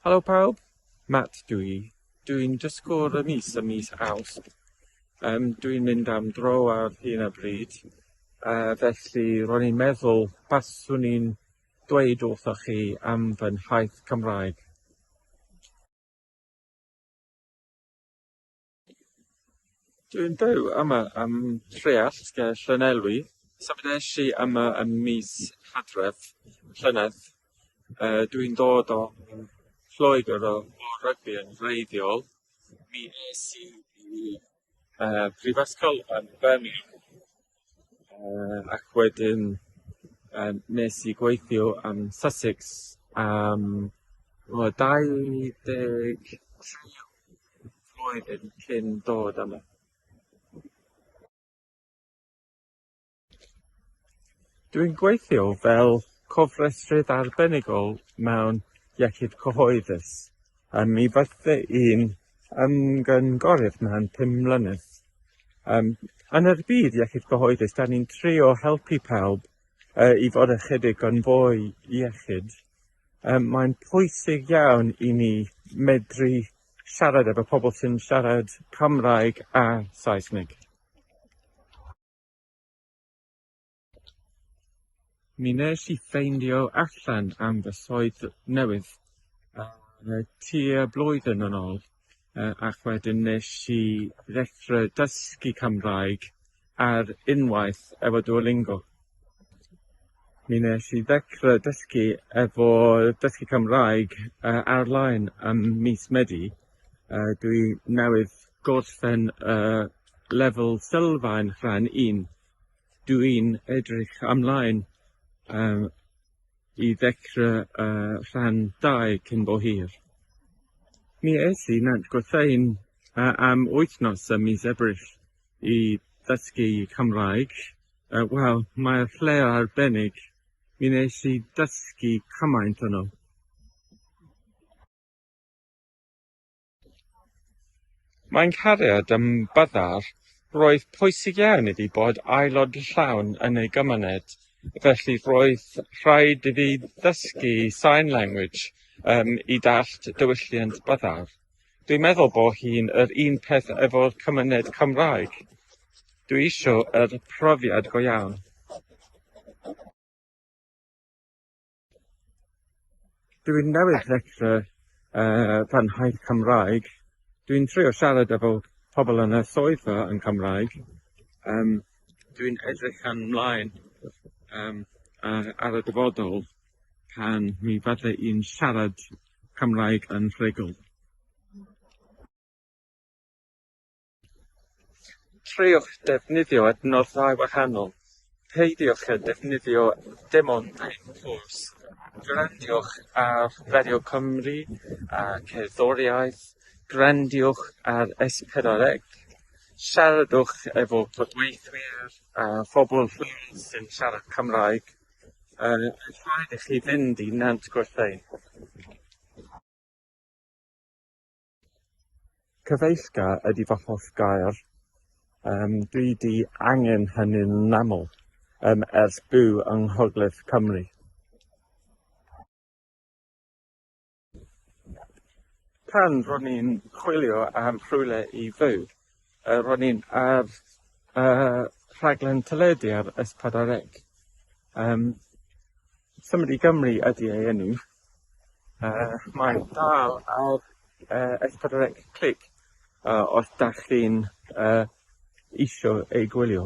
Helo pawb, Matt dw i. Dwi'n dysgwr y mis ym mis Awst. Um, dwi'n mynd am dro ar hyn o bryd, uh, felly ro'n i'n meddwl baswn i'n dweud wrthoch chi am fy nhaith Cymraeg. Dwi'n byw yma ym Mhreallt ger Llanelwy. Symudais i yma ym mis Hydref llynedd. Yy dwi'n dod o Lloegr o o rygbi yn wreiddiol. Mi es i i yy prifysgol yn Birmingham. Yym ac wedyn yym wnes i gweithio yn Sussex am tua dau ddeg tri flwyddyn cyn dod yma. Dwi'n gweithio fel cofrestrydd arbenigol mewn iechyd cyhoeddus. Um, mi bydde i'n ymgynghorydd mewn pum mlynedd. Um, yn yr byd iechyd gyhoeddus, da ni'n trio helpu pawb uh, i fod ychydig yn fwy iechyd. Um, mae'n pwysig iawn i ni medru siarad efo pobl sy'n siarad Cymraeg a Saesneg. Mi nes i ffeindio allan am fy swydd newydd yy tua blwyddyn yn ôl yy ac wedyn nes i ddechre dysgu Cymraeg ar unwaith efo Duolingo. Mi nes i ddechre dysgu efo dysgu Cymraeg yy ar-lein ym mis Medi a dwi newydd gorffen yy lefel sylfaen rhan un. Dw i'n edrych ymlaen yym i ddechra y rhan dau cyn bo hir. Mi es i Nant Gwrtheyrn yy am wythnos ym mis Ebrill i ddysgu Cymraeg yy wel mae'r lle arbennig, mi nes i dysgu cymaint yno. Mae'n cariad ym byddar, roedd pwysig iawn iddi bod aelod llawn yn ei gymuned, felly roedd rhaid iddi ddysgu sign language um, i dallt diwylliant byddar. Dwi'n meddwl bo hi'n yr un peth efo'r cymuned Cymraeg. Dwi isio yr profiad go iawn. Dwi'n newydd ddechrau yy fy nhaith Cymraeg. Dwi'n trio siarad efo pobl yn y swyddfa yn Cymraeg. Yym dwi'n edrych yn mlaen yym yy ar y dyfodol pan mi fydde i'n siarad Cymraeg yn rhugl. Treuliwch ddefnyddio adnoddau wahanol, peidiwch â defnyddio dim ond un ffos, gwrandiwch ar Radio Cymru a cerddoriaeth, gwrandiwch ar S4C, siaradwch efo cydweithwyr a phobl lleol sy'n siarad Cymraeg, yn rhaid i chi fynd i Nant Gwrtheyrn. Cyfeillga ydy fy hoff gair. Yym dwi 'di angen hynny'n aml yym ers byw yng Nghogledd Cymru. Pan ro'n i'n chwilio am rhywle i fyw yy ro'n i'n ar yy rhaglen teledu ar S4C yym Symud i Gymru ydi ei enw. Yy, mae'n dal ar yy es pedwar ec clic yy os 'dach chi'n yy isio ei gwylio.